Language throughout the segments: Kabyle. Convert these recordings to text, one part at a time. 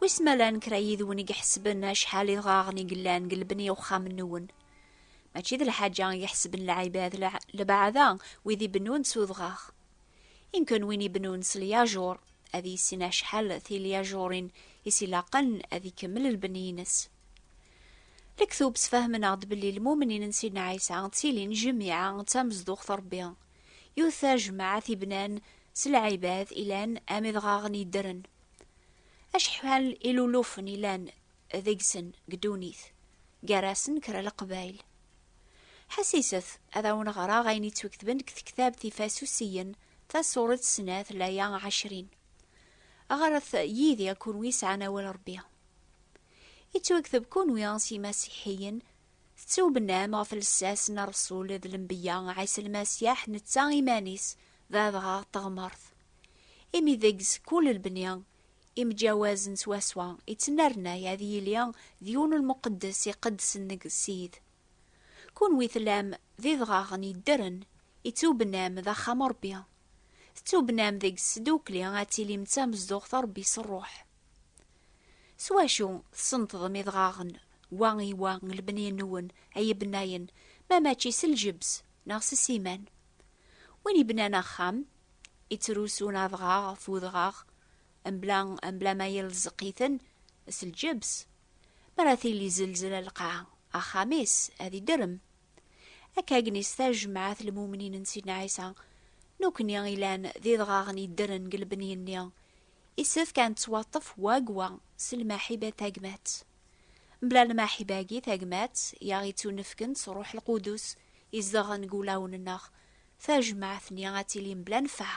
Wis ma llan kra yid-wen i iḥesben acḥal idɣaɣen i yellan deg lebni uxxam-nwen. Mačči d lḥaǧa i iḥesben lɛibad lebaɛda wid ibennun s udɣaɣ. Inken win ibennun s lyajuṛ ad yissin acḥal tilyajuṛin i s-ilaqen ad ikemmel lbeni-ines. Lektub sfahmen-aɣ-d belli lmumnin n Sidna Ɛisa ttilin jmiɛa d tamezduɣt n Ṛebbi. Yiwet tajmaɛt i bnan s lɛibad ilan am idɣaɣen yeddren. Acḥal ilulufen ilan deg-sen deg ddunit, gar-asen kra leqbayl. Ḥasiset ad awen-ɣreɣ ayen yettweketben deg tektabt Ifasusiyen tasuret snat laya ɛecrin. Ɣret yid-i kunwi sɛan awal Ṛebbi. Yettwakteb kunwi s yimasiḥiyen tettubnam ɣef lsas n Ṛesul d lembeyya Ɛisa Lmasiḥ netta iman-is d adɣaɣ n teɣmert. Imi deg-s kul lebni imǧawaz n swaswa ittnernay ad yili d yiwen lmuqeddes iqeddsen deg Ssid. Kunwi tellam d idɣaɣen yeddren, ittubnam d axxam Rebbi. Tettubnam deg-s sdukli ad tilim d tamezduɣt Rebbi s Rruḥ. S wacu tsenṭḍem idɣaɣen wa i wa n lebni-nwen ay ibennayen, ma mačči s ljebs neɣ s ssiman? Win yebnan axxam, ittrusun adɣaɣ ɣef udɣaɣ, mebla, mebla ma yelzeq-iten s lǧebs. Mi ara tili zelzela lqaɛa, axxam-is ad idrem. Akka gnis tajmaɛt lmumnin n Sidna Ɛisa, nukni ilan d idɣaɣen yeddren deg lebni-nni, isefk ad nettwaṭṭef wagwa s lmaḥiba tagmat. Mebla lmaḥiba-agi tagmat i aɣ-ittunefken s Ṛṛuḥ Lqudus izedɣen deg wulawen-nneɣ, tajmaɛt-nni ad tili mebla nnfeɛ.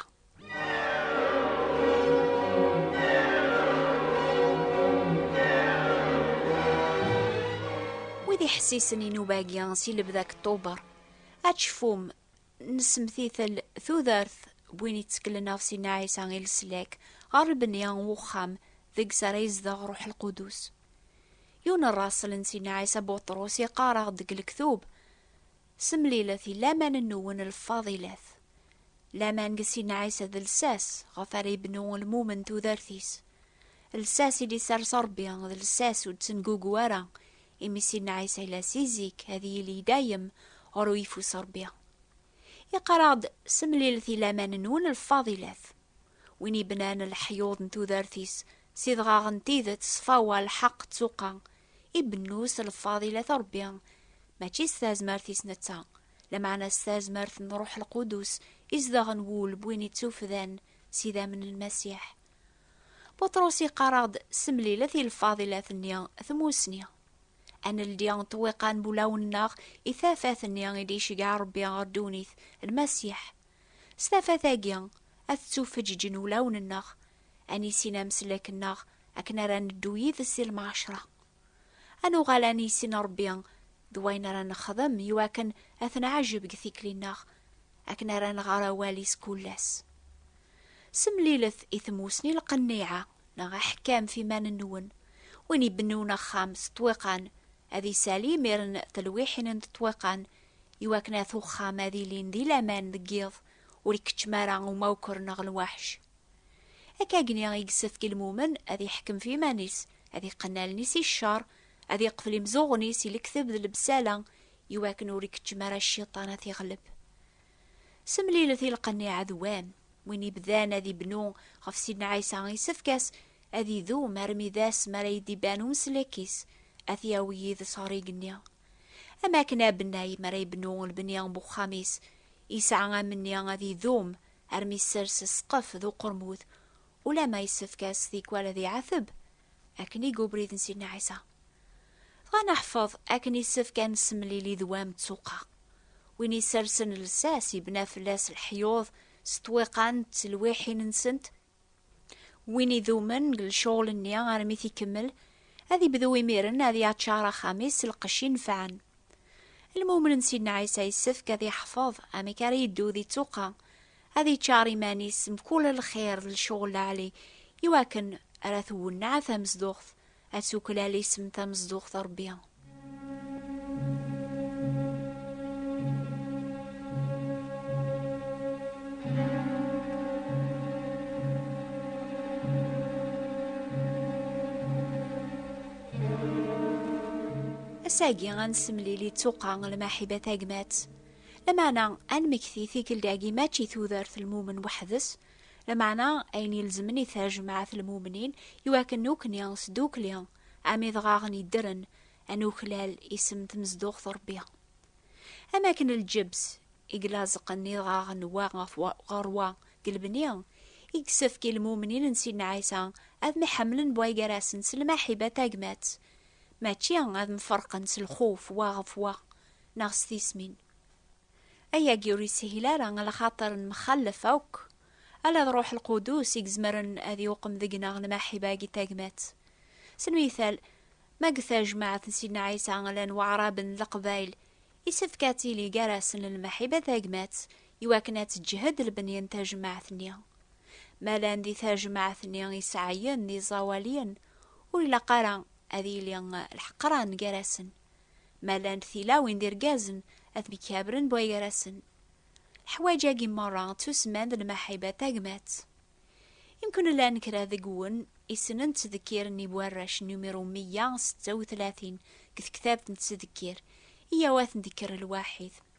Wid iḥessisen i nnuba-agi si lebda deg Ṭṭuber, ad tecfum Nessemtitel tudert n win itteklen ɣef Sidna Ɛisa i leslak ɣer lebni n wexxam deg-s ara yezdeɣ Ruḥ Lqudus. Yiwen n rrasel n Sidna Ɛisa Buṭrus yeqqar-aɣ-d deg lektub, Semlilet i laman-nwen lfadilat. Laman deg Sidna Ɛisa d lsas ɣef ara yebnu lmumen tudert-is. Lsas i d-isers Ṛebbi d lsas ur d-tengugu ara, imi Sidna Ɛisa yella si zik ad yili i dayem ɣer uyeffus n Ṛebbi. Yeqqar-aɣ-d, Semlilet i laman-nwen lfadilat. Win yebnan leḥyuḍ n tudert-is s idɣaɣ n tidet, ṣṣfawa, lḥeqq, ttuqa, ibennu s lfadilat n Ṛebbi, mačči s tazmert-is netta, lameɛna s tazmert n Ṛuḥ Lqudus izedɣen wul n win ittufdan s idammen n Lmasiḥ. Buṭrus yeqqar-aɣ-d s mlilat i lfadilat-nni tmussni. Ad neldi ṭṭwiqa n wulawen-nneɣ i tafat-nni i d-iceggeɛ Ṛebbi ɣer ddunit, Lmasiḥ. S tafat-agi, ad ttufeǧǧǧen wulawen-nneɣ, ad nissin amsellek-nneɣ akken ara neddu yid-s i lmɛecṛa. Ad nuɣal ad nissin Ṛebbi d wayen ara nexdem i wakken ad t-nɛejjeb deg tikli-nneɣ, akken ara nɣer awal-is kul ass. Semlilet i tmussni lqenniɛa neɣ aḥekkam f iman-nwen. Win ibennun axxam s ṭṭwiqan, ad isali imiren telwiḥin n ṭṭwiqan i wakken at uxxam ad ilin di laman deg yiḍ, ur ikeččem ara umawker neɣ lwaḥc. Akkagni i yessefk i lmumen ad iḥkem f iman-is, ad iqqen allen-is i ccer, ad iqfel imzuɣen-is i lekteb d lebsala, iwakken ur ikeččem ara cciṭan ad t-iɣleb. Semlilet i lqen i ɛedw-am. Win ibdan ad ibnu ɣef Sidna Ɛisa isefk-as ad idum armi d ass mi ara yi-d-iban umeslik-is, ad t-yawi yid-s ɣer igenni. Am wakken abennay mi ara ibnu lebni n uxxam-is, yesɛa amenni ad idum armi yessers ssqef d uqermud, ulamma yessefk-as tikwal ad iɛateb, akken i yubrid n Sidna Ɛisa. Dɣa neḥfeḍ akken yessefk ad nessemlili d wam d tuqqa. Win yessersen llsas yebna fell-as leḥyuḍ s twiqan d telwiḥin-nsent Win idumen deg lecɣal-nni armi t-ikemmel, ad ibdu imiren ad yaččar axxam-is s lqecc inefɛen. Lmumen n Sidna Ɛisa yessefk ad yeḥfeḍ amek ara yeddu di ttuqqa, ad yeččar iman-is mkul lxir d lecɣal lɛali iwakken ara twenneɛ tamezduɣt Ad tuklal isem tamezduɣt a Rebbi. Asagi ad nessemlili d tuqqa lmaḥiba tagmat. Lameɛna ad nmekti tikkelt-agi mačči tudert lmumen weḥd-s, Lameɛna ayen ilezmen i tajmaɛt n lmumnin i wakken nekni s dukli am idɣaɣen yeddren ad nuklal isem n tmezduɣt n Rebbi. Am wakken lǧebs i ilaẓeqen idɣaɣen wa ɣer wa deg lebni, i yessefk i lmumnin n Sidna Ɛisa ad mḥemmlen wa gar-asen s lmaḥiba tagmat, mačči ad mferqen s lxuf wa ɣef wa neɣ s tismin. Ayagi ur yeshil ara a lxaṭer nmxallef akk, ala d Ruḥ Lqudus i izemren ad yuqem deg-neɣ lmaḥiba-agi tagmat. S lmithal, ma deg tajmaɛt n Sidna Ɛisa llan waɛraben n leqbayl, isefk ad tili gar-asen lmaḥiba tagmat iwakken ad teǧhed lebni n tajmaɛt-nni. Ma llan di tajmaɛt-nni iseɛɛiyen d iẓawaliyen, ur ilaq ara ad yili lḥeqran gar-asen. Ma llant tilawin d irgazen, ad temkabren bɣi gar-asen. Leḥwaǧ-agi merra ttusemman d lmaḥiba tagmat. Imkun llan kra deg-wen isnen ttdekkir n iwarrac numiru meyya setta u tlatin deg tektabt n ttdekkir, iyyaw ad ten-dekker lwaḥid.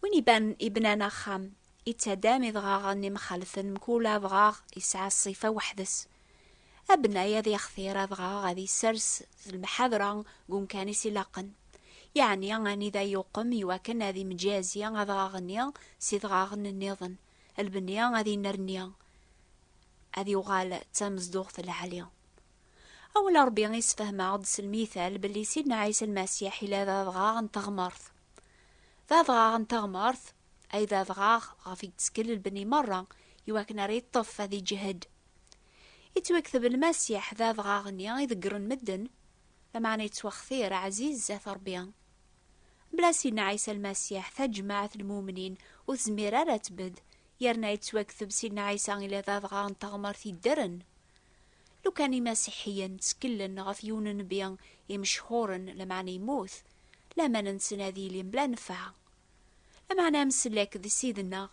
Win iban, ibnan axxam, ittadam idɣaɣen imxalten mkul adɣaɣ yesɛa ṣṣifa weḥd-s. Abnay ad yextir adɣaɣ ad isers d lemḥadra deg umkan-is ilaqen, yeɛni anida yuqem iwakken ad imǧazi adɣaɣ-nni s idɣaɣen nniḍen, lbni ad inerni, ad yuɣal d tamezduɣt lɛali. Awal n Ṛebbi isefhem-aɣ-d s lmithal belli Sidna Ɛisa Lmasiḥ yella d adɣaɣ n teɣmert. D adɣaɣ n teɣmert, ay d adɣaɣ ɣef i yettkel lbenni merra iwakken ara yeṭṭef ad iǧhed. Yettwakteb Lmasiḥ d adɣaɣ-nni i ḍeggren medden, lameɛna yettwaxtir ɛziz zdat Ṛebbi. Mebla Sidna Ɛisa Lmasiḥ, tajmaɛt n lmumnin ur tezmir ara ad tbedd, yerna yettwakteb Sidna Ɛisa ila d adɣaɣ n teɣmert yeddren. Lukan Imasiḥiyen tteklen ɣef yiwen n nnbi imecḥuren, lameɛna yemmut, laman-nsen ad yili mebla nnfeɛ. Lameɛna amsellek d Ssid-nneɣ,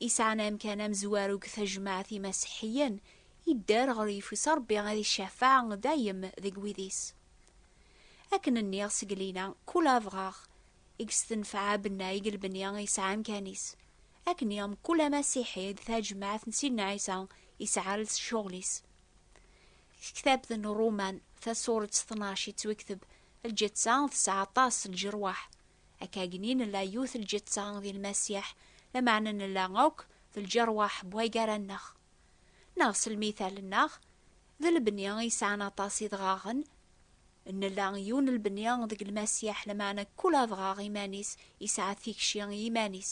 yesɛan amkan amezwaru deg tajmaɛt Imasiḥiyen, yedder ɣer yeffus Ṛebbi ad icafeɛ dayem deg wid-is. Akken nniɣ seg lina, kul abɣaɣ i yestenfeɛ abennay deg lbenya yesɛa amkan-is. Akken i mkul amasiḥi d tajmaɛt n Sidna Ɛisa yesɛa ls cɣel-is. Deg tektabt n Ruman, tasuret tnac yettwekteb, Lǧetta tesɛa aṭas lǧerwaḥ. Akkagni nella yiwet lǧetta di lmasiḥ, lameɛna nella akk d lǧerwaḥ buheggaranneɣ. Neɣ s lmithal-nneɣ, D lebni i yesɛan aṭas idɣaɣen. Nla yiwen n lebni deg Lmasiḥ, lameɛna kul adɣaɣ iman-is yesɛa tikci i yiman-is.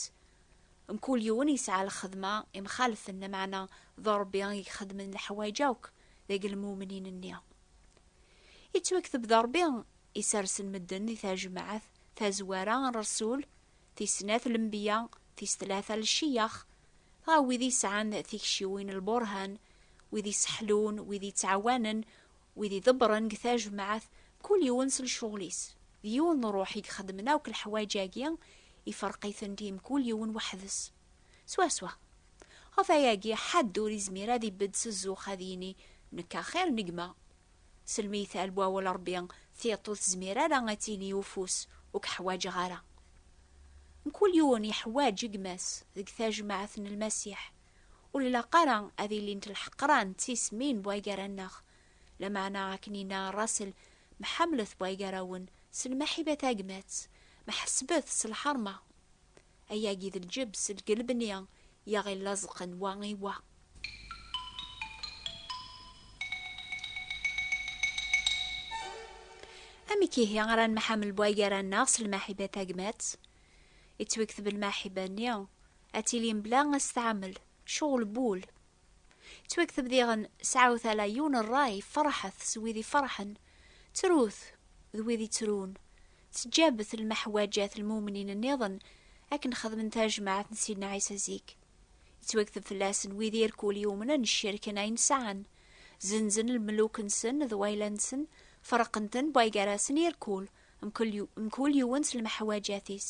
Mkul yiwen yesɛa lxedma imxalfen, lameɛna d Ṛebbi i ixeddmen leḥwayeǧ akk deg lmumnin-nni. Yettwakteb d Ṛebbi i sersen medden di tajmaɛt tazwara n Ṛsul tis snat lembiya, tis tlata lciyax, dɣa wid i sɛan tikciwin lburhan, wid i seḥlun, wid i ttɛawanen, wid i ḍebbren deg tajmaɛt, kul yiwen s lcuɣel-is, d yiwen n ṛuḥ i ixeddmen akk leḥwaǧ-agi, ifreq-itent i mkul yiwen weḥd-s. Swaswa. Ɣef wayagi, ḥedd ur izmir ad ibedd s zzux ad yini, Nekk axir n gma, Selmi yethal wawal Rebbi, tiṭ ur tezmir ara ad tini i ufus, ur k-ḥwaǧeɣ ara. Mkul yiwen iḥwaǧ gma-s deg tajmaɛt n Lmasiḥ. Ur ilaq ara ad ilint lḥeqran d tismin bway gar-aneɣ. Lameɛna akken yenna Russell, Mḥamlet bway gar-awen s lmeḥiba tagmat, ma ḥesbet s lḥerma. Ayagi d lǧebs deg lebni yaɣ-illaẓqen wa i wa. Amek ihi ara nemḥamel wa gar-aneɣ s lmaḥiba tagmat? Ittwikteb lmaḥiba-nni ad tili mebla asetɛamel, cɣel bul. Ttwakteb diɣen sɛawet ala yiwen rray, ferḥet s wid iferḥen, ttrut d wid ittrun, teǧǧabet lmeḥwaǧat lmumnin nniḍen akken xedmen tajmaɛt n Sidna Ɛisa zik. Yettwakteb fell-asen wid irkul yumnen ccerken ayen sɛan, zenzen lmeluk-nsen d wayla-nsen, ferqen-ten bway gar-asen irkul, mkul yiwen s lmeḥwaǧat-is.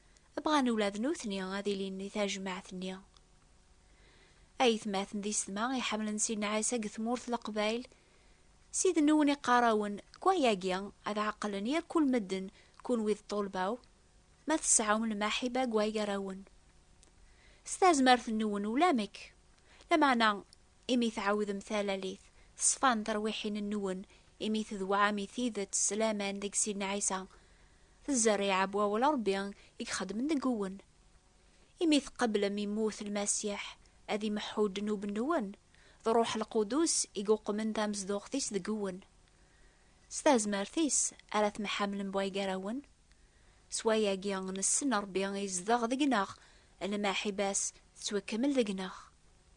Bɣan ula d nutni ad ilin di tajmaɛt-nni. Aytmaten di setma iḥemmlen Sidna Ɛisa deg tmurt n Leqbayel, s idennuwen i qqar-awen, deg wayagi ad ɛeqlen yir kul medden, kunwi d ṭṭulba-w, ma tesɛum lmaḥiba deg waygar-awen. S tazmert-nwen ulamek, lameɛna imi tɛawdem talalit, ṣfan terwiḥin-nwen, imi tedwɛam i tidet s laman deg Sidna Ɛisa, d zzerriɛa n wawal n Ṛebbi i ixeddmen deg-wen. Imi tqeblem immut n Lmasiḥ ad imeḥḥu ddnub-nwen, d Ṛṛuḥ Lqudus i yuqmen tamezduɣt-is deg-wen. S tazmert-is ara temḥamlem way gar-awen. S wayagi nessen Ṛebbi izdeɣ deg-neɣ, lmaḥiba-s tettwakemmel deg-neɣ.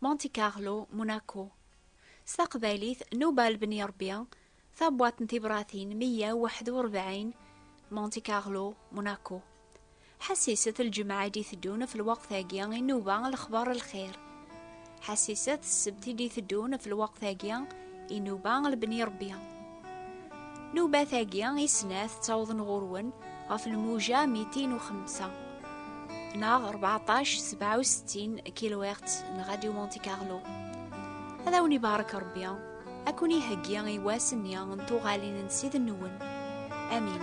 Monte Carlo, Monaco. S taqbaylit, Nubal Ben Yerbi, tabwaṭ n tibratin 141, Monte Carlo, Monaco. Ḥassiset lǧemɛa i d-iteddun ɣef lweqt-agi i nuba lexbar lxir. Ḥassiset ssebt i d-iteddun ɣef lweqt-agi i nuba lbni rebbi. Nubat-agi i snat ttawḍen ɣur-wen ɣef lmuja mitin u xemsa neɣ 1467 kilohertz n Radio Monte Carlo. Ad awen-ibarek Rebbi, ad kun-iheggi i wass-nni n tuɣalin n Ssid-nwen. Amin.